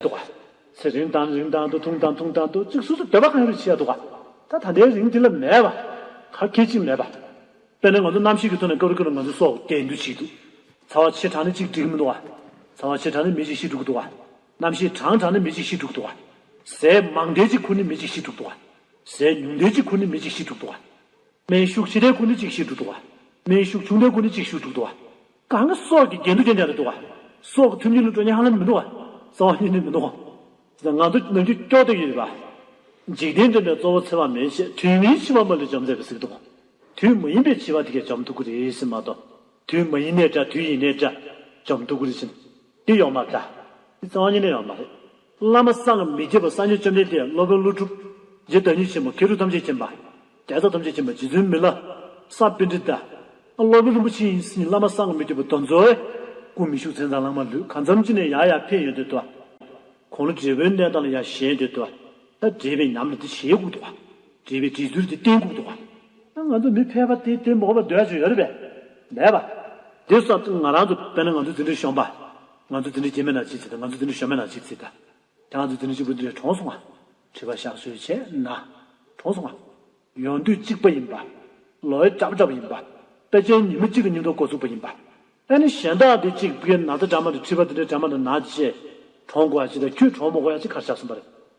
འདུག་ག། ཚེ་རིང་དང་རིང་དང་དུ་ཐུང་དང་ཐུང་དང་དུ་གཅིག་སོ་སོ་འདོད་པ་གང་ཡོད་རེ་བྱེད་ཡ་འདུག་ག། ད་ད་ལྟའི་རིང་དེ་ལ་མེད་པ། ག་སྐད་ཅིག་མེད་པ། དཔེར་ན་ང་ཚོ་རྣམ་ཤེས་ཀྱི་ཐོག་ནས་སྐབས་རེ་སྐབས་རེ་ང་ཚོའི་སྲོག་བདེ་འདུག་བྱེད་འདུག། ཚ་བ་ཆེ་དྲགས་ནས་གཅིག་འགྲིག་མི་འདུག་ག། ཚ་བ་ཆེ་དྲགས་ནས་མི་གཅིག་ཤི་འགྲོ་གི་འདུག་ག། རྣམ་ཤེས་གྲང་དྲགས་ནས་མི་གཅིག་ཤི་འགྲོ་གི་འདུག་ག། ཟས་མང་དྲགས་གཅིག་ཁུར་ནས་མི་གཅིག་ཤི་འགྲོ་གི་འདུག་ག། ཟས་ཉུང་དྲགས་གཅིག་ཁུར་ནས་མི་གཅིག་ཤི་འགྲོ་གི་འདུག་ག། སྨན་ཤུགས་ཆེ་དྲགས་ཁུར་ནས་གཅིག་ཤི་འགྲོ་གི་འདུག་ག། སྨན་ཤུགས་ཆུང་དྲགས་ཁུར་ནས་གཅིག་ཤི་འགྲོ་གི་འདུག་ག། གང་གི་སྲོག་གི་འགལ་འདུ་ཅན་ཅན་དུ་འགྲོ་བ། སྲོག་གི་ཐུན་ཉིད་ལུས་དྲོད་ཉག་ལ་མི་འགྲོ་བ། རྩ་བ་གཉིས་ནི་མི་འགྲོ་བ། ཇི་ལྟར་ང་འདོད་ནོན་རྒྱུ་སྐྱོ་སྟེ་ཡིན་པ། འཇིག་རྟེན་འདྲེན་པའི་གཙོ་བོ་འཚེ་བ་མེད་ཅེས་དུས་མིན་འཆི་བ་མ་ལུས་འཇོམས་མཛད་པའི་གཟིགས་རྟོག། དུས་མ་ཡིན་པའི་འཆི་བ་དེ་ཀས་འཇོམས་ཐུགས་ཀུ་རེ་བཞིན་མ་གཏོགས། དུས་མ་ཡིན་ནས་འདྲ་དུས་ཡིན་ནས་འདྲ། འཇོམས་ཐུགས་ཀུ་རེ་བཞིན། དེ་ཡོད་མ་འདྲ། དེ་རྩ་བ་གཉིས་ནི་ཡོད་མ་རེད། བླ་མ་སངས་མི་རྒྱས་པ་སངས་རྒྱས་བཅོམ་ལྡན་འདས་སློབ་དཔོན་ཀླུ་སྒྲུབ། རྗེ་བདག་ཉིད་ཆེན་པོ་ཁེ་གྲུབ་ཐམས་ཅད་མཁྱེན་པ། རྒྱལ་ཚབ་ཐམས་ཅད་མཁྱེན་པ་རྗེ་བཙུན་མི་བླ། ས་པཎྜི་ཏཱི། སློབ་དཔོན་རིན་པོ་ཆེ་ཡིན་སྲིད་བླ་མ་སངས་མི་རྒྱས་པ་གདོན་འཛོལ། སྐུ་མི་བཞུགས་མཚན་བཟང་ལྷག་མ་ལུས་གང་མཚམས་ཅི་ནས་ཡར་ཡར་འཕེན་ཡོད་འདོད་དོ། གོང་ལོ་བགྲེས་པོའི་གནས་དང་ལ་ཡར་གཞན་འདོད་དོ། བགྲེས་པའི་ཉམས་ལ་དེ་ཞལ་བཀུག་དོ། བགྲེས་པའི་དྲིས་ཚུལ་དེ་སྟན་བཀུག་དོ། ང་ཚོ་མི་ཕལ་པ་དེ་དེ་འབོག་པར་འདོད་ཡ་ཆོས་ཡོད་རེད་པས། མེད་པ། དེ་སོགས་ང་རང་ཚོ་དཔལ་ནཱ་ང་ཚོ་འཛིན་གྲྭའི་གཞོན་པ། ང་ཚོ་འདི་འདྲའི་སྐྱེས་མེད་ན་ཅི་བྱེད་དང་ང་ཚོ་འདི་འདྲའི་གཞོན་མེད་ན་ཅི་བྱེད། དེ་ང་ཚོ་འདི་འདྲའི་གཅིག་པུ་འདི་འདྲའི་གྲོངས་སོང་ང། དྲི་བ་བཞག་སྲོལ་བྱས་ན། གྲོངས་སོང་ང། ཡོང་དུས་གཅིག་པ་ཡིན་པ། ལོ་ཡི་བཀྲག་བཀྲག་པ་ཡིན་པ། དཔེ་ཆའི་ཉིན་མོ་གཅིག་གི་སྙིང་སྟོབས་འགོ་ཚུགས་པ་ཡིན་པ། ཨ་ནི་གཞན་དག་འདི་གཅིག་པུའི་ན་ཚ་འདྲ་མ་འདི་འཁྲིས་པ་འདི་འདྲའི་འདྲ་མ་འདི་ན་ཅི་བྱེད། གྲོངས་དགོས་ཡ་ཅི་དང་ཁྱོད་གྲོངས་མི་དགོས་ཡ་ཅི་གར་བཞག་སོང་པ་རེད།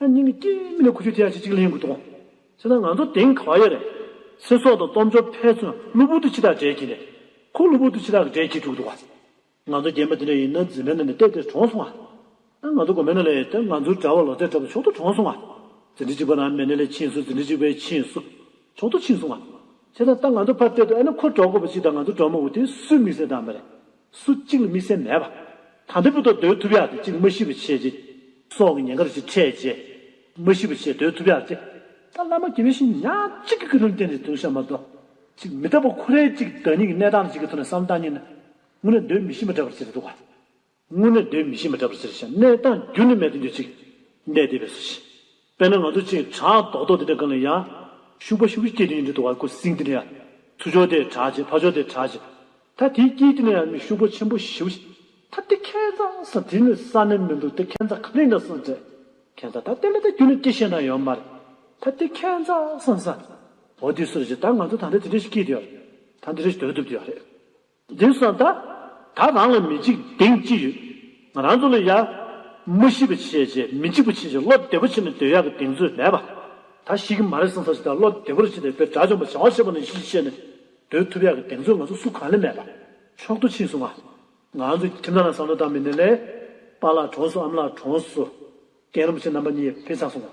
ཨ་ནིང་གི་སྐྱེས་མི་ལ་ཁུ་བྱུག་ཐེག་ཆེན་གཅིག་ལས་ཡོང་གི་འདུག་ཅེ་ན་ང་ཚོ་དེང་ག་བ་ཡོད་རེད། ཚེ་སྲོག་དང་སྟོབས་འབྱོར་ཕན་ཚུན་གློ་བུར་དུ་ཕྱི་ཐག་བྲལ་གྱིན་རེད། ཁོ་གློ་བུར་དུ་ཕྱི་ཐག་གི་བྲལ་གྱིན་འདུག་འདུག། ང་ཚོ་རྒན་པ་དེ་འདྲ་ཡིན་ན་འཛིན་མའི་ནང་ནས་བལྟས་བལྟས་གྲོངས་སོང་ང། ང་ཚོ་དགོན་པའི་ནང་ལས་ད་ང་ཚོའི་གྲྭ་བ་ལོ་ཙཱའི་གྲྭ་བ་མཆོག་ཏུ་གྲོངས་སོང་ང། འཛིན་གྲྭ་གཅིག་པ་ན་མེ་ནེ་ལས་ཕྱིན་སོང་འཛིན་གྲྭ་གཅིག་པའི་ཕྱིན་སོང་མཆོག་ཏུ་ཕྱིན་སོང་ང། ཅེ་ན་ད་ང་ཚོ་ཕར་བལྟས་དུ་ཨ་ནི་ཁོ་གྲོགས་མགོ་པོ་ཅིག་དང་ང་ཚོ་གྲོགས་མོ་དགུ་དེ་སུས་དམིགས་བསལ་བདམས་པ་རེད། སུ་གཅིག་ལ་དམིགས་བསལ་མེད་པ། དམ་པའི་བུ་དག་འདོད་ཐུབ་ཡག་དེ་གཅིག་ལ་མ་ཤི་བ་ཆེ་རྗེ། སྲོག་གི་ཉེན་ཁར་གཅིག་འཕྲད་རྗེ། མ་ཤི་བ་ཆེ་འདོད་ཐུབ་ཡག་ཅེ། ད་བླ་མ་དགེ་བའི་བཤེས་གཉེན་ཉག་གཅིག་གི་སྐུ་དྲུང་བསྟེན་ནས་བརྩོན་བཞག་མ་གཏོགས། གཅིག་མི་རྟག་པ་ཁོ་རེ་གཅིག་བདག་ཉིད་ཀྱི་གནས་སྟངས་ལ་གཅིག་གི་ཐོག་ནས་བསམ་བཏང་ཉིན་ན། དངོས་གནས་འདོད་མི་ཤེས་པ་འདྲ་པར་ཅི་རེད་འདུག་ག། དངོས་གནས་འདོད་མི་ཤེས་པ་འདྲ་པར་ཅི་རེད་བཤད་གནས་སྟངས་རྒྱུན་ལས་མེད་དུ་འགྱུར་ཅིག། གནས་དེ་བས་སུ་ཤེས། དཔེར་ན་ང་ཚོ་ཅིག་བྲག་རྡོག་རྡོག་དེ་འདྲ་གང་ལ་ཡང། ཤུག་པ་ཤུག་པའི་སྐད་དེ་ཡིན་དུས་དུ་བར་སྐོར་སིང་དེ་འདྲ་ཡང། ཚུར་ཕྱོགས་དེ་བྲག་ཅིག་ཕར་ཕྱོགས་དེ་བྲག་ཅིག། ད་དེའི་སྐད་དེ་འདྲ་ཡང་མི་ཤུག་པོ་ཆེན་པོ་ཞིག་བྱེད། ད་དེ་ཁན་རྩ་ས་དེ་ནི་ས་ནི་མི་འདུག་དེ་ཁན་རྩ་གང་ནས་ན་སང་འདྲ། ཁན་རྩ་ད་དེ་ལ་ད་རྒྱུ་ལ་སྐད་བཤད་ན་ཡོད་མ་རེད། ད་དེ་ཁན་རྩ་སང་ས། འོ་དེ་སུ་རེད་ཅེ་ད་ང་ཚོ་ད་འདྲ་དེ་འདྲ་ཞིག་སྐད་དེ་ཡོད་རེད། ད་འདི་འདྲ་ཞིག་དོད་དུ་བཏུབ་དུ་ཡོད་རེད། འདི་ས་ད། ད་རང་ལ་མི་འཇིགས་དེང་ཅི་ཡོད། ང་རང་ཚོ་ལ་ཡ། མི་ཤི་བ་ཆེས་ཆེ་མི་འཇིགས་པ་ཆེས་ཆེ་བློ་བདེ་བོ་བྱེད་ནས་སྡོད་ཡག་གི་གདེང་ཚོད་མེད་པ། ད་ཤི་གི་མ་རེད་སང་ས་ཞིག་ད་བློ་བདེ་བོ་རེ་བྱེད་དེ་བོད་དགྲ་བཅོམ་པ་བྱང་བ་ཤེས་པ་ནས་ཤི་ཤེས་ནས་སྡོད་ཐུབ་ཡག་གི་གདེང་ཚོད་ང་ཚོ་སུ་གང་ལས་མེད་པ། མཆོག་ཏུ་ཕྱིན་སོང་ང། ང་རང་ཚོའི་ཁྱིམ་ཚང་ལ་ས་ནོར་དག་མི་ནས་ལས། པཱ་ལགས་གྲོངས་སོང་ཨམ་ལགས་གྲོངས་སོང། རྒན་རིན་པོ་ཆེ་རྣམ་པ་གཉིས་ཕེབས་ཚར་སོང་ང།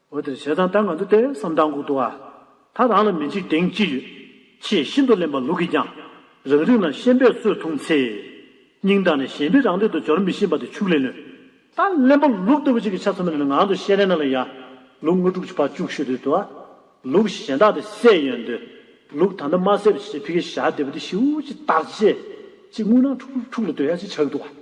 འོད་དེར་བྱས་ཙང་ད་ང་འདུག་སྟེ་བསམ་གཏམ་གུག་འདུག་ཨ། ད་རང་ལ་མི་འཇིགས་དེང་སྐྱིད་ཡོད། ཅེས་ཤིན་ཏུ་གླེན་པ་ལུག་གིས་ཀྱང། རང་རིགས་ན་ཤན་པས་སྲོལ་ཐུང་ཚེ། སྙིང་དང་ནི་གཞན་པའི་རང་སྟེང་དུ་འབྱོར་མི་ཤེས་པ་དེ་ཕྱུགས་ལས་ནོས། ད་གླེན་པ་ལུག་ལྟ་བུ་ཅིག་གིས་ཆ་ཚང་མི་ནི་ངང་དུ་ཤེས་རན་ན་ལ་ཡ། ལུག་ལྔ་དྲུག་ཅུ་ཕར་བཅུག་ཤོད་དུས་དུ་ཨ། ལུག་གཞན་དག་དེ་བསད་ཡོན་འདོད། ལུག་ད་ལྟ་མ་བསད་པ་ཅི་བྱེད་ཕི་གེ་ཞག་འདས་པ་དེ་ཤིའུ་ཅི་སྟག་ཅེས། ཅེས་རྔུལ་ནག་འཁྲུག་འཁྲུག་ལ་སྡོད་ཡ་ཅེས་བྱ་གི་འདུག་ཨ།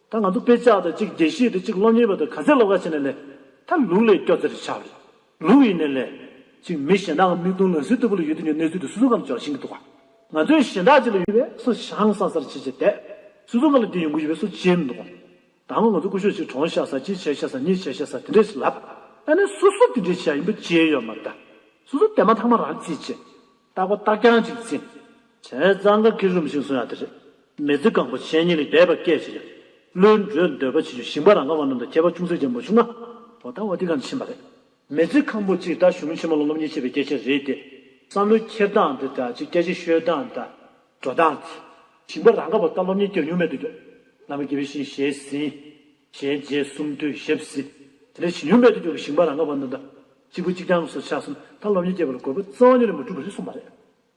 ད་ང་ཚོ་དཔེ་ཆ་དང་གཅིག་དགེ་བཤེས་དང་གཅིག་སློབ་གཉེར་བ་དང་ག་ཚད་ལོག་ཀ་བྱས་ནས་ལས། ད་ལུག་ལས་སྐྱོ་ཚེར་ཆགས་རེད། ལུག་ཡིན་ནས་ལས། གཅིག་མི་གཞན་དག་མིག་མདུང་ལག་ཟིན་ལྟ་བུ་ལ་ཡོད་དུས་ཀྱི་གནས་ཚུལ་དེ་སུ་སུ་གང་དུ་འཇོག་བཞིན་གྱི་འདུག་ག། ང་ཚོའི་གཞན་དག་ཅིག་ལ་ཡོད་པས་སུ་ཞང་སང་སར་བྱེད་བྱེད་བསྡད། སུ་སུ་གང་ལ་དེ་ཡོང་གི་ཡོད་པས་སུ་བྱེད་མི་འདུག་གམ། ད་སྔོན་ང་ཚོ་སྐུ་ཞོགས་གཅིག་གྲོངས་བཞག་ས་གཅིག་བྱས་བཞག་ས་གཉིས་བྱས་བཞག་ས་དེ་འདྲས་ཞིག་ལབ། ད་ནི་སུ་སུ་དེ་འདྲས་བྱས་ཡིན་པ་བརྗེད་ཡོད་མ་རེད་ད། སུ་སུ་དེ་མ་ཐག་མ་རང་བརྩིས་བྱས། རྟག་པ་རྟག་རྐྱང་ཅིག་བརྩིགས། བྱས་གཙང་ག་གི་རུམ་ཞིག་བཟུང་ཡང་དེ་རེད། མི་རྫི་གང་པོ་གཞན་གཉིས་ལས་འདས་པ་སྐད་ཅིག་ཡང། བློའི་འགྲོས་འདོད་པ་བྱེད་རྒྱུ་ཞིང་པ་རང་ཁ་བ་རྣམས་དང་ཁྱད་པར་ཅུང་ཟད་ཀྱང་མ་བྱུང་ན། བོ་ད་བ་འདི་གང་དུ་ཕྱིན་པ་རེད། མི་རྫི་གང་པོ་གཅིག་ད་གཞུང་ཆེན་མོ་ལ་སློབ་གཉེར་བྱེད་པའི་སྐད་ཆ་རེད་དེ། བསམ་བློའི་འཁྱེར་སྟངས་འདི་ད་ཅིག་སྐད་ཆའི་ཤོད་སྟངས་ད། འགྲོ་སྟངས་འདི། ཞིང་པ་རང་ཁ་བ་ད་སློབ་གཉེར་བསྐྱར་ཉུང་མེད་དུ་རྒྱོབ། བླ་མ་དགེ་བའི་བཤེས་གཉེན་ཞལ་ཟིན། ཞལ་མཇལ་གསུམ་དུས་ཞབས་ཟིན། དེ་འདྲའི་བྱེད་ཉུང་མེད་དུ་རྒྱོབ་པའི་ཞིང་པ་རང་ཁ་བ་རྣམས་ད། གཅིག་པུ་གཅིག་རྐྱང་སོགས་ཆགས་སོང་ད་སློབ་གཉེར་བསྐྱེད་པ་ལ་དགོས་པ་རྩ་བ་ཉིད་ལས་མ་གྲུབ་པ་རེད་གསུངས་པ་རེད།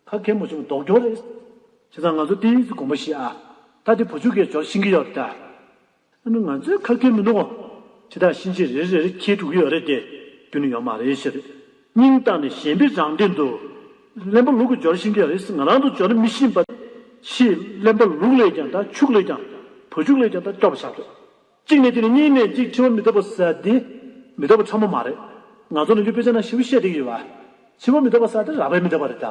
ཁ་མཁས་མོ་ཆུང་མདོག་སྐྱོར་རེད། བྱས་ཙང་ང་ཚོ་བསྟན་ཡུལ་གྱི་དགོན་པ་ཞིག་ཨ། ད་དེ་བུ་ཕྱུགས་ཀའི་ཇོར་ཤིང་གི་ཡོད་རེད་ད། ཨ་ནི་ང་ཚོའི་ཁ་མཁས་མི་འདུག་གོ། ཕྱི་ཐག་གཤིན་རྗེ་རེ་རེར་ཁྱེད་དྲུག་གི་ཡོད་རེད་དེ། རྒྱུ་ནི་ཡོད་མ་རེད་ཞེས་རེད། སྙིང་གཏམ་ནི་གཞན་པའི་རང་སྟེང་དུ། གླེན་པ་ལུག་གི་ཇོར་ཤིང་གི་རེད་ང་རང་དུ་ཇོ་ནི་མི་ཤིས་པ། ཕྱིས་གླེན་པ་ལུག་ལས་ཀྱང་ད་ཕྱུགས་ལས་ཀྱང། བུ་ཕྱུགས་ལས་ཀྱང་ད་སྐྱོ་བ་ཆགས་རེད། གཅིག་ནས་དེ་ནི་གཉིས་ནས་གཅིག་ཕྲི་བ་མི་ལྡོག་པ་ཟ་དེ། མི་ལྡོག་པ་ཕྲ་མོ་མ་རེད། ང་ཚོ་ནང་རྒྱུད་དཔེ་ཆ་ན་བཞི་བོ་ཤད་དེ་གི་ཡོད་པ། ཕྱི་བོ་མི་ལྡོག་པ་ཟ་དེ་ར་བས་མི་ལྡོག་པ་རེད་ད།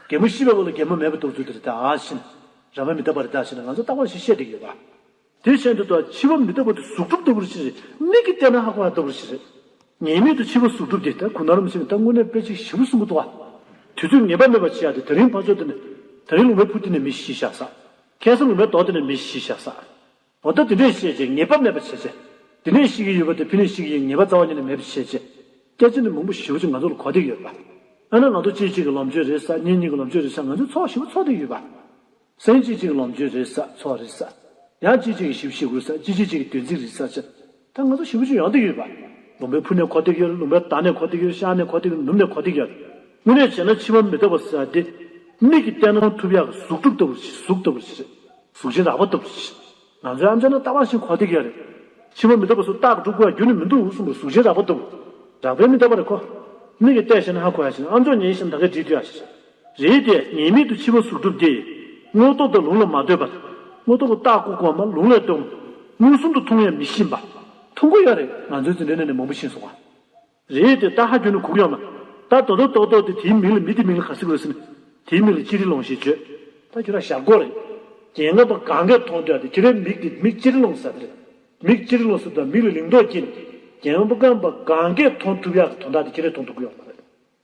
རྒན་མོ་ཤི་བའི་འོག་ལ་རྒན་མོ་མེད་པ་འདུག་ཚུལ་དེ་རེད་ད་བཞིན། ར་བས་མི་ལྡོག་པ་རེད་ད་བཞིན་ན་ང་ཚོ་རྟག་པར་བཞི་ཤད་དེ་གི་ཡོད་པ། དེ་བཞིན་དུ་ད་ཕྱི་བོ་མི་ལྡོག་པ་དེ་གཟུགས་གྲུབ་ལྟ་བུར་བཞིན་རེད་མིག་གིས་བལྟས་ན་ཧ་གོ་ཧ་ལྟ་བུར་བཞིན་རེད། ངེས་མེད་དུ་ཕྱི་བོ་གཟུགས་གྲུབ་དེ་ད་གུ་ན་རུམ་བཞིན་ནི་ད་དངོས་གནས་དཔེ་གཅིག་བཞི་བོ་གསུམ་པོ་ལྟོ། དུས་ཚོད་ངེས་པ་མེད་པར་བྱེད་ཡག་དེ་ད་རིང་ཕར་ཕྱོགས་དེ་ནས། ད་རིང་ལུང་པའི་ཕུ་དེ་ནས་མི་བཞི་བཞག་ས། ཁེ་སང་ལུང་པའི་མདོག་དེ་ནས་མི་བཞི་བཞག་ས། གོ་བརྡ་དེ་འདྲས་བཤད་རྗེས་ངེས་པ་མེད་པ་བྱས་རྗེས། དེ་འདྲས་བཤད་ཀྱི་ཡོད་པ་དེ་ཕན་ནུས་ཤིག་ཡིན་ངེས་པ་རྩ་བ་ཉིད་ནས་མེད་པ་བྱས་རྗེས། སྐད་ཆ་འདི་མང་པོ་ཞིབ་ཕྲ་ཅིག་ང་ཚོ་ལ་གོ་བདེ་ཡོད་པ། དཔེར་ན་ང་ཚོ་གཅིག་གཅིག་གི་ལོངས་སྤྱོད་རེད་ས་གཉིས་གཉིས་ཀྱི་ལོངས་སྤྱོད་རེད་ས་ང་ཚོས་ཚོགས་ཞིབ་ཚོགས་བསྡུས་ཡོད་པ། སེམས་གཅིག་གཅིག་གི་ལོངས་སྤྱོད་རེད་ས་ཚོགས་རེད་ས། ཡང་གཅིག་གཅིག་གི་ཞིབ་བཤེར་དགོས་ས་གཅིག་གཅིག་གཅིག་གི་དོན་ཚིག་རེད་ས་བཅས། ད་ང་ཚོ་ཞི་བུ་ཆུ་ཡང་དུ་ཡོད་པ། ལུང་པའི་ཕུ་ནས་གོ་ཐིག་གཡོར་ལུང་པའི་དར་ནས་གོ་ཐིག་གཡོར་ཤར་ནས་གོ་ཐིག་ནུབ་ནས་གོ་ཐིག་གཡོར། དངོས་གནས་བྱས་ན་ཕྱི་མ་མི་རྟག་པ་ཟེར་བ་དེ། མིག་གིས་བལྟས་ན་ཐུབ་ཡག་གི་གཟུགས་གྲུབ་ལྟ་བུར་བྱེད་གཟུགས་ལྟ་བུར་བྱེད། གཟུགས་ཅན་རགས་པ་ལྟ་བུར་བྱེད། ང་ཚོའི་ཨ་མཆོག་ནི་ལྟ་བ་བཞིན་གོ་ཐིག་གཡོར་རེད། ཕྱི་མ་མི་རྟག་པ་སུ་རྟག་གི་གྲུབ་དགོས་པ་རྒྱུ་ནི་མི་འདུག་གསུངས་པར་གཟུགས་ཅན་རགས་པ་ལྟ་བུ། རགས་པའི་མི་རྟག་པ་རེད་ཁོ། མིག་གིས་བལྟས་ཤེས་ན་ཧ་གོ་ཡག་བྱས་ན་ཨ་མཆོག་ཉིན་ཞིག་ནམ་ཟླ་འགའི་འགྲིག་འདུག་ཡག་བྱས། རེད་དེ། ངེས་མེད་དུ་འཆི་བ་གཟུགས་གྲུབ་སྟེ། དངོས་སྟོབས་དང་ལུང་ལ་མ་ལྟོས་པར། དངོས་སྟོབས་ཀྱི་རྟགས་སྐུ་གོང་མ་ལུང་ལས་བཏོན། མངོན་སུམ་དུ་མཐོང་ཡང་མི་ཤེས་པ། མཐོང་གོ་ཡ་རེད་ང་ཚོའི་འཛིན་གྲྭའི་གནས་ནས་མང་པོ་ཤེས་སོང་བ། རེད་དེ། རྟགས་ཧ་གྱོན་ནས་གུག་ཡོང་ན། ད་དོ་དོ་ཏོག་ཏོག་དེ་དེའི་མིང་ལ་མི་དེའི་མིང་ལ་ག་སྲིད་གོ་རེ་ཟེར་ནས། དེའི་མིང་ལ་ཅི་རི་ལོང་ཞེས་བརྗོད། ད་ཁྱོད་རང་ཞབས་སྒོ་རེད། རྒྱན་ལྔ་པ་གང་གས་མཐོང་ཐོས་དེ་ཁྱོད་རའི་མིག་དེ་མིག་ཅི་རི་ལོང་ཟེར་བ་རེད། མིག་ཅི་རི་ལོང་ཟེར་བ་དང་མིག་ལ་ལིང་ཏོག་སྐྱེས་ནས། རྒྱན་ལྔ་པ་གང་པ་གང་གས་མཐོང་ཐུབ་ཡག་གི་དོན་དག་དེ་ཁྱོད་རས་མཐོང་ཐུབ་གི་ཡོང་གི་མ་རེད།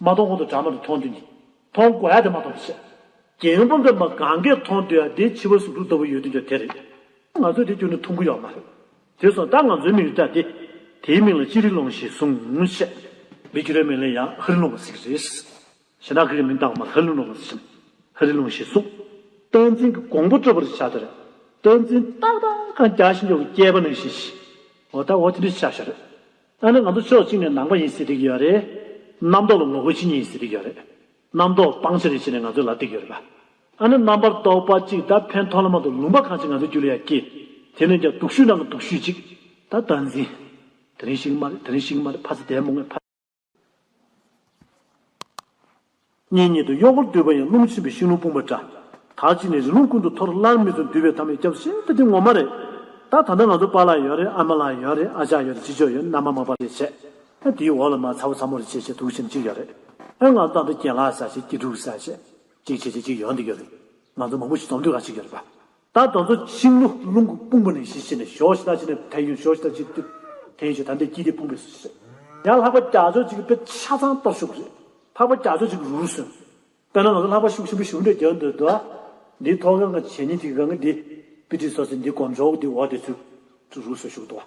མ་མཐོང་ཁོང་དུ་གྲགས་མ་དེ་མཐོང་དུས་ནི། མཐོང་དགོས་ཡ་དེ་མ་མཐོང་དུས་སེ། རྒྱལ་ཡོན་པོ་འདི་མ་གང་གས་མཐོང་དུས་ཡ་དེ་འཆི་བ་ཟུག་འཁྲུག་ལྟ་བུ་ཡོད་དུས་ཀྱང་དེ་རེད། ང་ཚོས་དེ་སྐྱོན་དུ་མཐོང་གི་ཡོད་མ་རེད། དེ་སོང་ད་ང་ཚོའི་མིག་རི་ཏྲ་སྟེ། དེའི་མིང་ལ་ཅི་རི་ལུང་ཞེས་གསུངས། མི་རྒྱུད་རའི་མིང་ལས་ཡང་ཧི་རི་ལུང་བ་ཟེར་གི་རེད། གཞན་དག་གིས་མིང་བཏགས་མ་ཧི་རི་ལུང་བ་ཟེར་ཞིང། ཧི་རི་ལུང་ཞེས་གསུངས། བསྟན་འཛིན་གྱི་གོང་བུ་དཀྲོལ་བར་བྱ་དེ་རེད། བསྟན་འཛིན་ཏག་ཏག་ཁང་རྒྱ་ཤིང་མགྱོགས་ཀྱི་སྐྱེས་པ་ནང་བཞིན་ཞིག། འོ་ད་འོ་དེ་འདྲའི་ཤ་ཤ་རེད། ཨ་ནི་ང་ཚོ་ཕྱོགས་གཅིག་ནས་ནང་པ་ཡིན་ཟེར་གི་ཡོད་རེད། རྣམ་རྟོག་ལ་ངོ་རྒོལ་བྱེད་ཉེན་ཡིན་ཟེར་གི་ཡོད་རེད། རྣམ་རྟོག་སྤང་བྱ་རེད་ཞེས་ནས་ང་ཚོའི་ལ་བཏེག་གི་ཡོད་རེད་པ། ཨ་ནི་རྣམ་པར་རྟོག་པ་གཅིག་ད་ཕན་ཐོགས་ལ་མ་གཏོགས་ལུང་པ་གང་ཞིག་ང་ཚོའི་རྒྱུད་ལ་ཡང་སྐྱེས། དེ་ནས་ཀྱང་དུག་ཤུལ་ནང་གི་དུག་ཤུལ་གཅིག། ད་ལྟ་འཛིན། དེ་རིང་ཤི་གི་མ་རེད་དེ་རིང་ཤི་གི་མ་རེད་ཕ་ཚེ་དད་མོ་ངས་ཕ། གཉེན་ཉེ་དུ་གཡོག་པོར་འདུས་པ་ཡང་རླུང་འཆིང་བའི་ཤིང་ལོང་སྤུངས་པ་འདྲ། དག་ཅིག་ནི་རི་ལུང་ཀུན་ཏུ་འཐོར་སླར་མི་ཚུགས་འདུས་པའི་ཐ་མའི་སྐྱབས་སེམས་དཔའ་དེ་ངོ་མ་རེད། ད་ད་ནི་ང་ཚོ་པཱ་ལགས་ཡོད་རེད་ཨ་མ་ལགས་ཡོད་རེད་ཨ་ཅག་ཡོད་རེད་ཅི་ཅོག་ཡོད་རྣམ་པ་མང་པ་རེད་བྱས། ཨ་དེའི་འོག་ལ་མ་ཚ་བོ་ཚ་མོ་རེད་བྱས་བྱས་དུག་ཆེན་གཅིག་ཡོད་རེད། ཨ་ང་ཚོ་ད་འདི་གྱེན་ལགས་ས་བྱས་སྐྱིད་སྡུག་ས་བྱས། གཅིག་བྱས་བྱས་གཅིག་ཡོད་འདི་ཡོད་རེད། ང་ཚོ་མང་པོ་ཞིག་འཛོམས་འདུས་ཁག་གཅིག་ཡོད་རེད་པཱ། ད་དང་ཚོ་བྱིང་རླུ་རླུང་གི་དཔུང་པོ་ནས་ཞི་ཞི་ནས་ཞོ་ཞི་ད་ཞི་ནས་ཐལ་ཡུན་ཞོ་ཞི་ད་ཞི་ཏུ་ཐལ་ཡུན་ཞོ་ད་འདི་དཀྱིལ་དེ་ཕུང་པོའི་སུ་ཞི། ཡང་ལྷག་པ་རྒྱ་མཚོ་ཅིག་པད་ཆ་ཚང་སྟོར་ཤུགས་རེད། ལྷག་པ་རྒྱ་མཚོ་ཅིག་རུ་རུ་སོན། དཔེར་ན་ང་ཚོ་ལྷག་པ་ཤུགས་ཆེན་པོ་ཞུགས་འདོད་རྒྱག་འདོད་དུ། འདིའི་ཐོག་གི་ང་བྱས་ཉེས་ཅིག་གི་ག་ང་འདི། པི་ཏི་སོ་སི་འདི་གོམ་ཆོག་གི་འདི་འོག་དེ་ཚུར། ཚུར་རུ་སོན་ཤུགས་འདུག་བ།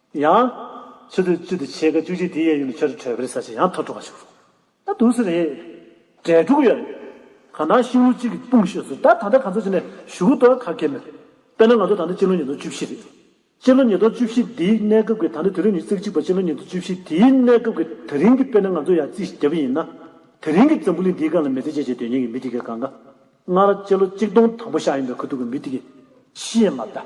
ཡང། ཆུ་ཚོད་བཅུ་དང་ཕྱེད་ཀ་བཅུ་གཅིག་དེའི་གཡས་གཡོན་དུ་ཆར་གྲི་བྲོས་པའི་ས་ཞིག་ཡང་ཐོར་ཐོར་བ་ཞིག་རུང། ད་དུ་སུ་རེད། གྲལ་དྲུག་ཡོད་རེད། གང་ལྟར་ཤིང་ལོ་གཅིག་གི་དཔུང་ཤོས་སུ་ད་ད་ལྟ་ག་ཚོད་ཅིག་ནས་བཞུགས་འདུག་ག་གེ་མོད། དཔེར་ན་ང་ཚོ་ད་ལྟ་སྤྱི་ལོ་ཉིས་སྟོང་བཅུ་བཞི་རེད། སྤྱི་ལོ་ཉིས་སྟོང་བཅུ་བཞི་དེའི་གནས་སྐབས་ཀྱི་ད་ལྟ་དུས་རབས་ཉིས་བརྩེགས་གཅིག་པ་སྤྱི་ལོ་ཉིས་སྟོང་བཅུ་བཞི་དེའི་གནས་སྐབས་ཀྱི་དེ་རིང་གི་དཔེར་ན་ང་ཚོ་ཡར་རྩིས་བརྒྱབ་ཡིན་ན། དེ་རིང་གི་འཛམ་བུ་གླིང་འདིའི་སྒང་ལ་མི་ཚེ་སྐྱེལ་བྱེད་སྡོད་ཉེན་གྱི་མི་དེ་གའི་སྒང་ཀ། སྔར་སྤྱི་ལོ་གཅིག་སྟོང་དང་པོ་ཤར་ཡིན་པའི་ཁུ་ཐུག་གི་མི་དེ་གའི། ཤི་ཡིན་མ་གཏད།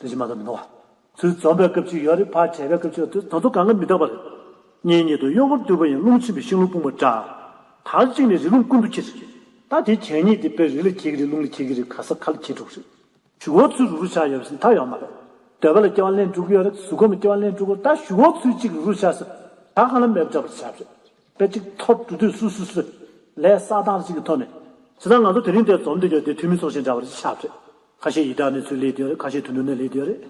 དུས་ཕྱི་མ་དུ་མི་འདུག་བ། དུས་འཛོམས་པའི་སྐབས་ཅིག་ཡོད་རེད་ཕར་བྲལ་བའི་སྐབས་ཅིག་ཡོད་དུས་ད་དུང་གང་གི་མི་རྟག་པ་རེད། གཉིས་ཉིད་དུ་གཡོ་འཁོར་བརྟུལ་བ་ཡིན་རླུང་ཆེན་པོའི་ཤིང་ལོ་སྤུངས་པ་འདྲ། དར་གཅིག་ནས་རི་ཀླུང་ཀུན་ཏུ་འཁྱིལ། ད་དེ་གྱེན་ཉིད་དེ་དཔེར་རི་ལ་འཁྱིལ་གྱི་རེད་རླུང་ལ་འཁྱིལ་གྱི་རེད་ག་ས་ག་ལ་འཁྱིལ་འགྲོ་གི་རེད། ཞུ་འོག་ཚུལ་རུ་རུ་ཆགས་ཡོད་རེད་ཟེར་མཐའ་ཡོད་མ་རེད། འདོད་པ་ལ་སྐྱེ་བ་ལེན་འགྲོ་གི་ཡོད་རེད་གཟུགས་ཁམས་ལ་སྐྱེ་བ་ལེན་འགྲོ་གི་རེད་ད་ཞུ་འོག་ཚུལ་གཅིག་རུ་རུ་ཆགས་ཟེར། ད་གང་ལ་མེད་པ་འདྲ་པར་ཆགས་རེད། དཔེ་ཅིག་ཐོར་འབྲུ་དུས་སུ་སུ་སུ། ལས་གསག་སྟངས་ཅིག་གི་ཐོག་ནས། ཇི་ལྟར་ང་ཚོ་དེ་རིང་འདས་འཛོམས་འདི་ཡོད་དུས་ཐུན་མིན་ཚོགས་ཆེན་འདྲ་བ་རེ་ཆགས་རེད། ཁ་ཤས་ཡི་དྭགས་ནས་ཚུར་ལས་གྱི་ཡོད་རེད་ཁ་ཤས་དུད་འགྲོ་ནས་ལས་གྱི་ཡོད་རེད།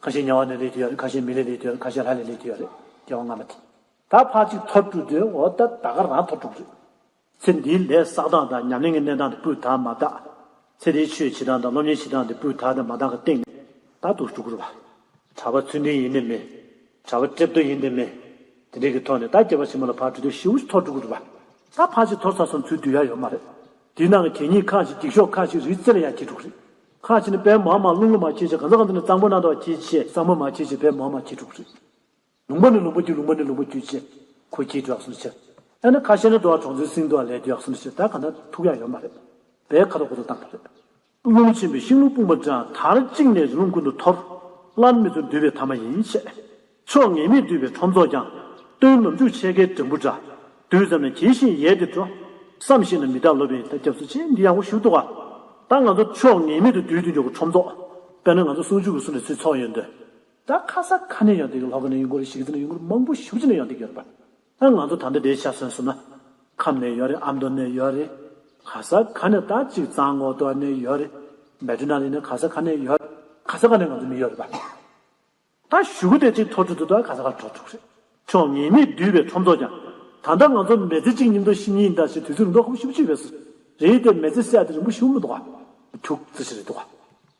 ཁ་ཤས་གཉའ་བ་ནས་ལས་གྱི་ཡོད་རེད་ཁ་ཤས་མི་ལས་ལས་གྱི་ཡོད་རེད་ཁ་ཤས་ལྷ་ལས་ལས་གྱི་ཡོད་རེད་སྐྱེ་བ་སྔ་མ་དེ། ད་ཕར་ཅིག་ཐོར་དཀྲུགས་དེ་འོ་ད་ད་ག་རང་ཐོར་དཀྲུགས་རེད། ཚེ་འདིའི་ལས་བསགས་སྟངས་དང་ཉམས་ལེན་གྱི་གནས་སྟངས་དེ་སྤུས་དག་མ་བརྟགས། ཚེ་འདིའི་ཆོས་བྱེད་སྟངས་དང་སློབ་གཉེར་བྱེད་སྟངས་དེ་སྤུས་དག་དང་མ་བརྟགས་ཀྱི་སྟེང་ནས་ད་དུ་ཞུགས་དགོས་རེད་བ། གྲྭ་པ་ཚུལ་ལྡན་ཡིན་དེ་མིན། གྲྭ་པ་གྲིབ་ཏོ་ཡིན་དེ་མིན། དེ་འདྲའི་གི་ཐོག་ནས་ད་སྐྱེ་བ་ཆེན་མོ་ལ་ཕར་དཀྲུགས་དེ་ཞི་བོ་ཞིག་ཐོར་དཀྲུགས་དགོས་རེད་བ། ད་ཕར་ཅིག་ཐོར་ཚ་སོང་ཚུལ་དུས་ཡ་ཡོད་མ་རེད། དེའི་ནང་གི་གད་སྙིགས་ཁག་ཅིག་འགྱིག་ཤོག་ཁག་ཅིག་རིའི་རྩེ་ལ་ཡང་གྱེས་འགྲོ་གི་རེད། ཁག་ཅིག་ནི་བལ་མ་མ་རླུང་རླུང་མ་གྱེས་ཆེད་གང་ས་གང་དུ་ནས་གཙང་པོ་གནང་ཐོག་གྱེས་ཆེད་གཙང་པོ་མ་གྱེས་ཆེད་བལ་མ་མ་གྱེས་འགྲོ་གི་རེད། ལུང་པ་ནས་ལུང་པ་བརྒྱུད་ལུང་པ་ནས་ལུང་པ་བརྒྱུད་ཆེད་ཁོ་གྱེས་འགྲོ་ག་སོང་ནི་ཆེད། ཨ་ནི་ཁ་ཤས་ནི་འགྲོ་བ་གྲོང་ཚོའི་སིང་འགྲོ་བ་ལས་འགྱོད་ག་སོང་ནི་ཆེད་ད་ག་ན་ཐུག་ཡ་ཡོད་མ་རེད། བལ་ཁ་ཐོག་གོ་ཐོག་བཏང་ཐུབ་རེད། རླུང་ཆེན་པོས་ཤིང་ལོ་སྤུངས་པ་འདྲ་དར་གཅིག་ནས་རླུང་ཀུན་ཏུ་འཐོར། སླར་མི་ཚུགས་འདུས་པའི་ཐ་མ་ཡིན་བཤད། ཕྱོགས་ངེས་མེད་འདུས་པའི་ཁྲོམ་ཚོགས་ཀྱང། སྟོན་ནམ་འཇུག་ཆད་ཁའི་གྲིམ་བུ་འདྲ། དུས་ཙམ་ན་གྱེས་ཤིང་ཡལ་ཏེ་འགྲོ། བསམ་ཤེས་ན་མི་དག་ལོ་པའི་མཐའ་སྐྱབས་སུ་ཆེ་འདི་ཡག་པོ་ཞུ་གཏོགས། ད་ང་ཚོ་ཕྱོགས་ངེས་མེད་དུ་འདུས་ཏེ་འཇུག་གི་ཁྲོམ་ཚོགས། དཔེར་ན་ང་ཚོ་ཟུང་འཇུག་གི་གསུང་ལས་ཚུལ་ཚོགས་ཡོད་འདོད། ད་ཁ་སང་ཁ་ནས་ཡོང་སྟེགས་ཀྱི་ལྷོ་ཁ་ནས་ཡོང་གོ་རེ་ཞིག་གི་ཚེ་ན་ཡོང་གོ་རེ་མང་པོ་ཞུགས་ཅི་ནས་ཡོང་སྟེགས་ཡོད་རེད་པ། ད་ང་ཚོ་ད་ལྟ་དེའི་ཆ་སོན་སོང་ན། ཁམས་ནས་ཡོད་རེད་ཨ་མདོ་ནས་ཡོད་རེད། ག་ས་ག་ནས་ད་ཅིག་གཙང་ངོགས་སྟོད་ནས་ཡོད་རེད། མལ་གྲོ་ན་རེ་ནས་ག་ས་ག་ནས་ཡོད། ག་ས་ག་ནས་ང་ཚོ་མི་ཡོད་རེད་པ། ད་བཞུགས་སྒོ་དེ་ཅིག་ཐོ་ཕྲུག་ཚོ་ད་ག་ས་ག་གྲོ་ཕྲུག་རེད། ཁྱོད་ངེས་མེད་བསྡུས་པའི་ཁྲོམ་ཚོགས་ཀྱང། ད་ལྟ་ང་ཚོ་མེ་ཚེ་གཅིག་ཉིན་ཏོ་བཞི་ཉིན་ཟླ་ཞེས་དུས་ཚོད་རིང་ཐོག་ཁོ་བཞི་བཅུ་བཅུ་བས་སུ། རེད་དེ་མེ་ཚེ་བསད་དེ་རིང་པོ་བཞུགས་མི་འདུག་ག། དུག་རྩི་ཞིག་རེད་འདུག་ག།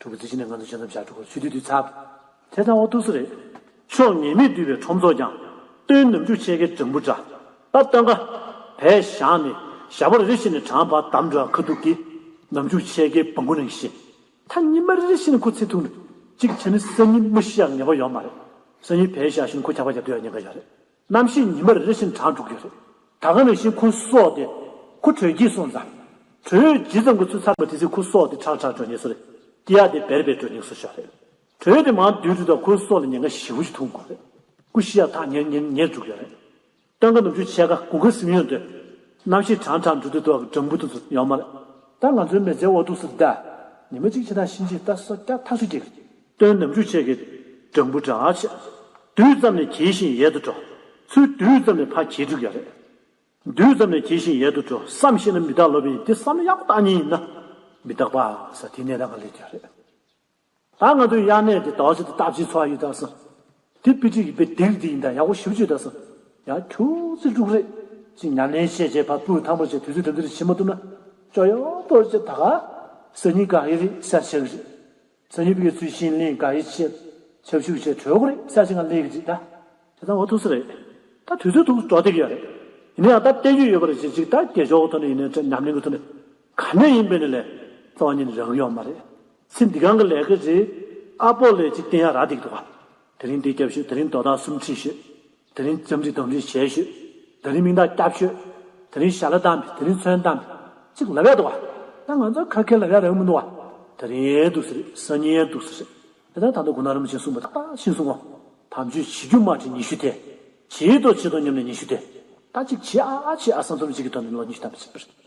ཐུགས་རྗེ་ཆེ་ནས་ང་ཚོ་བྱེད་ཙམ་བྱ་ཕྲུ་གུ་ཚུད་དུས་དུས་ཚར། དེ་ཙམ་འོ་ཐུགས་གསོ་རེད། ཕྱོགས་ངེས་མེད་བསྡུས་པའི་ཁྲོམ་ཚོགས་ཀྱང། སྟོན་ནམ་རྒྱུག་ཆེ་གེ་སྦྲང་བུ་འདྲ། སྟབས་སྟོན་ཀ། བས་བཞག་ནས། ཞག་པར་རེ་བཞིན་ནས་གྲང་བར་འདམ་འགྲོ་ཡང་ཁ་ཐུག་གི། ནམ་རྒྱུག་ཆེ་གེ་སྦང་གུ་ནང་གི་བཞིན། མཐའ་གཉིས་མ་རེ་རེ་བཞིན་ཁུ་ཚེ་ཐུག་ནས། གཅིག་བྱས་ནས་སང་ཉིན་མི་ཤི་ཡག་ངེས་པ་ཡོད་མ་རེད། སང་ཉིན་བས་བཞག་བཞིན་ཁུ་འཁྱག་པ་བརྒྱབ་འདོད་ཡག་ཉེན་ཁ་ཡོད་རེད། གནམ་ཤིང་ཉི་མར་རེ་བཞིན་གྲགས་འགྲོ་གི་རེད། ད་སྔ་བའི་བཞིན་ཁུ་སོགས་ཏེ། ཁུ་དྲོད་སྐྱིད་སོང་ཙང། དྲོད་ཡོད་ཇི་ཙམ་གྱི་ཚུལ་ཚང་བའི་དུས་ཚིགས་ཁུ་སོགས་ཏེ་ཁྲག་ཁྲག་འགྲོ་ཉེ་སོ་རེད། སྐྱི་ཡག་དེ་བེར་བེར་འགྲོ་ཉེ་སོ་ཤོག་རེད། དྲོད་དེ་མང་དུས་དྲོད་དང་ཁུ་སོགས་ལ་ཉེན་ཁ་བཞི་བོ་ཅིག་འཐུང་དགོས་རེད། ཀུ་ཤི་ཡག་ཐག་ཉེར་ཉེར་ཉེར་འགྲོ་གི་རེད། སྟོན་ཀ་ནུབ་ཆུ་ཕྱེད་ཀ་དགུ་ཀ་སིམ་ཡོན་ཏེ། གནམ་ཤིང་གྲང་གྲང་འགྲོ་དུས་དུ་བ་གི་སྦྲང་བུ་དང་ཚུར་ཡོང་མ་རེད། ད་ང་ཚོའི་མེ་ལྕེའི་འོག་ཏུ་སུ་བདའ། ཉི་མ་གཅིག་ཕྱེད་དང་ཕྱིན་ཅི་ལྟ་སོ་སྐྱ་ཐག་ཆུ་སྐྱེ་གི་རེད། སྟོན་ནམ་འཇུ་བྱེད་ཀྱི། སྦྲང་བུ་འདྲ་བྱེད། དུས་ཙམ་ནས་གྱེས་ཤིང་ཡལ་དུ་འགྲོ། ཚུལ་དུས་ཙམ་ནས་ཕ་གྱེས་འབྲུག་ཡ་རེད། དུས་ཙམ་ནས་གྱེས་ཤིང་ཡལ་དུ་འགྲོ་བསམ་ཤེས་ན་མི་རྟག་ལོ་པས་ཡིན་དེ་བསམ་ཡག་པོ་བཏང་ཉིན་ཡིན་ན། མི་རྟག་པ་ས་དེ་ནས་རང་ག་ལས་རྒྱ་རེད། ད་ང་ཚོའི་དབྱར་གནས་དེ་དག་བྱེད་དུ་སྟབས་ཅིག་འཚོ་བ་ཡོད་ད་བསམ། དེ་དཔེ་ཁྲིད་ཀྱི་དཔེ་དེ་རིགས་དེ་ཡིན་ད་ཡག་པོ་ཞིབ་བརྗོད་ད་བསམ། ཡང་ཁྱོད་ཚེ་འབྲུག་རེད། ཅིག་ཉར་ལེན་བྱས་བྱས་ཕ་སྤུའི་ཐང་པོ་བྱས་དུས་ཚོད་དེ་འདིར་བྱེད་མ་ཐུབ་ན། ཅོ་ཡོ་པོ་བྱས་ད་ག། སེར་སྙིང་ག་གི་རེད་གསལ་བྱེད་ཀྱི་རེད། ཚ་ཡུལ་གྱི་ཚུལ་ཤིང་གླིང་ག་ཡི་ཆེད་ཆབ་ཞུགས་བྱས་གྲོས་འགོ་རེད་ས་ཞིག་ང་ལས་གི་ཅིག་ད། དེ་ད་འོ་ཐུག་ས་རེད། ད་དུས་ཚོད་ཐུག་འགྲོ་སྡེབ་ཡོད་རེད། ཡིན་ན་ཡང་ད་བལྟས་རྒྱུ་ཡོད་པ་རེད་བྱེད་ཅིག་ད་རྒྱལ་ཞོག་གི་ཐོག་ནས་ཡིན་ན་དྲན་ཉམས་ལེན་གྱི་ཐོག་ནས་ག་ནས་ཡིན་པའི་ནས་ལས་རྩ་བ་ཉིད་རང་གི་ཡོག་མ་རེད། ཚེ་འདི་གང་གི་ལས་གི་རེད། ཨ་པོ་ལས་ཅིག་བསྟན་ཡ་ར་འདེགས་འདུག་ག། དེ་རིང་འདི་རྒྱབ་ཤོད་དེ་རིང་དོ་བདག་གསུམ་ཁྲིད་ཤོད། དེ་རིང་རྩོམ་སྒྲིག་དོམ་སྒྲིག་བྱས་ཤོས། དེ་རིང་མིང་རྟགས་བསྐྱབས་ཤོས། དེ་རིང་ཞྭ་ལ་བཏང་བས་དེ་རིང་ཚོན་བཏང་བས། ཅིག་ལབ་ཡག་འདུག་བ། ད་ང་ཚོ་ཁ་ཁེར་ལབ་ཡག་རེད་མི་འདུག་བ། དེ་རིང་ཡན་འདུག་སེ་རེད་སང་ཉིན་ཡན་འདུག་སེ་རེད། དེ་ལྟར་ད་ལྟ་དགུང་ན་རིམ་བྱིན་གསུངས་པ་ཏག་ཏག་ཤིང་གསུང་ངོ། དམ་ཆོས་བྱེད་རྒྱུ་མ་ཁྲིད་ཉི་ཤུ་ཐལ། བྱེད་དོ་བྱེད་དོ་སྙམ་ནས་ཉི་ཤུ་ཐལ། ད་ཅིག་བྱེད་ཨ་ཨ་བྱེད་ཨ་སང་རྩོམ་སྒྲིག་གི་དོན་དུ་ལོ་ཉི་ཤུ་ཐམ་པ་བྱེད་པ་རེད།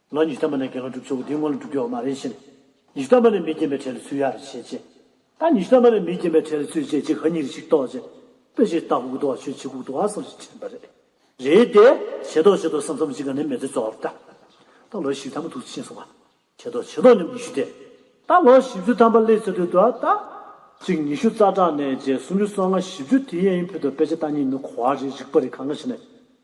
ང་ཉི་ཤུ་ཐམ་པ་ནས་དགེ་སློང་སྒྲུབ་ཆོག་གི་དེའི་སྔོན་ལ་སྒྲུབ་ཆོག་མ་རེད་བཞིན། ཉི་ཤུ་ཐམ་པ་ནས་མི་སྐྱེན་པའི་གྲས་ལ་ཚུད་ཡག་རེད་བྱས་རྗེས། ད་ཉི་ཤུ་ཐམ་པ་ནས་མི་སྐྱེན་པའི་གྲས་ལ་ཚུད་རྗེས་ཅི་གང་ཉིད་རེ་ཞིག་རྟོགས་རྗེས། དཔེ་ཆའི་ལྟ་སྐུག་ལྟོ་བ་ཆོས་ཆེ་སྐུག་ལྟོ་བ་བསམ་བཞིན་དྲན་པ་རེད། རེད་དེ། ཆེ་མདོག་ཆེ་མདོག་བསམ་བསམ་ཅི་ག་ནས་མེ་ཚེ་བཙོག་རེད་ད། ད་ལོ་ཞིག་ཐ་མ་ཐུག་ཕྱིན་སོང་བ། ཆེ་མདོག་ཆེ་མདོག་ཉམས་ཉི་ཤུ་དེ། ད་ལོ་བཞི་བཅུ་ཐམ་པ་སླེབས་ཚར་དུས་ད་ད། གཅིག་ཉི་ཤུ་རྩ་གྲངས་ནས་བརྒྱད་སུམ་ཅུ་སོ་ལྔ་བཞི་བཅུ་དེ་ཡན་ཡིན་ཕུད་དོ་དཔེ་ཆ་ལྟ་ཉིན་ནི་གོ་བ་རེད་རིག་པ་རེད་ག་འགའ་ཞིག་ནི།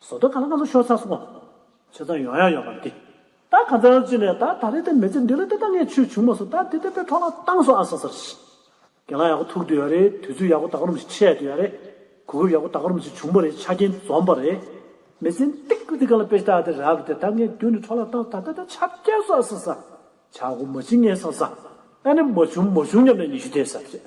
ཟོ་དོ་ག་ལ་ང་ཚོ་ཤོར་ཚར་སོང་བ། ཆེ་ཚང་ཡོང་ཡག་ཡོད་པ་འདི། ད་ག་ཚོད་རང་བྱིན་ནས་ད་ད་རེད་དེ་མི་ཚེ་འདི་ལ་དེ་ད་ངས་ཆུས་བྱུག་མ་སོང་ད་དེ་དེ་དཔེ་ཐོག་ལ་བཏང་སོང་ཨ་ས་སར་ཤི། གན་ལ་ཡག་པོ་ཐུག་འདོད་ཡག་རེད་དུས་ཚོད་ཡག་པོ་ད་ག་རུམ་ཞིག་ཆད་འདོད་ཡག་རེད། གོ་སྐབས་ཡག་པོ་ད་ག་རུམ་ཞིག་བྱུང་པ་རེད་ཆ་རྐྱེན་འཛོམས་པ་རེད། མི་ཚེ་འདི་ག་ལ་དཔེ་ལྟ་དེ་རག་དེ་ད་ངས་མདུན་ནས་ཐོག་ལ་བཏང་ད་ད་ད་ཆ་བསྐྱལ་སོང་ཨ་ས་ས། ཆ་སྒོ་མ་བྱིན་ངས་སང་ས། ཨ་ནི་མ་བྱུང་མ་བྱུང་སྙམ་ནས་ཉི་ཤུ་འདས་ས་རེད།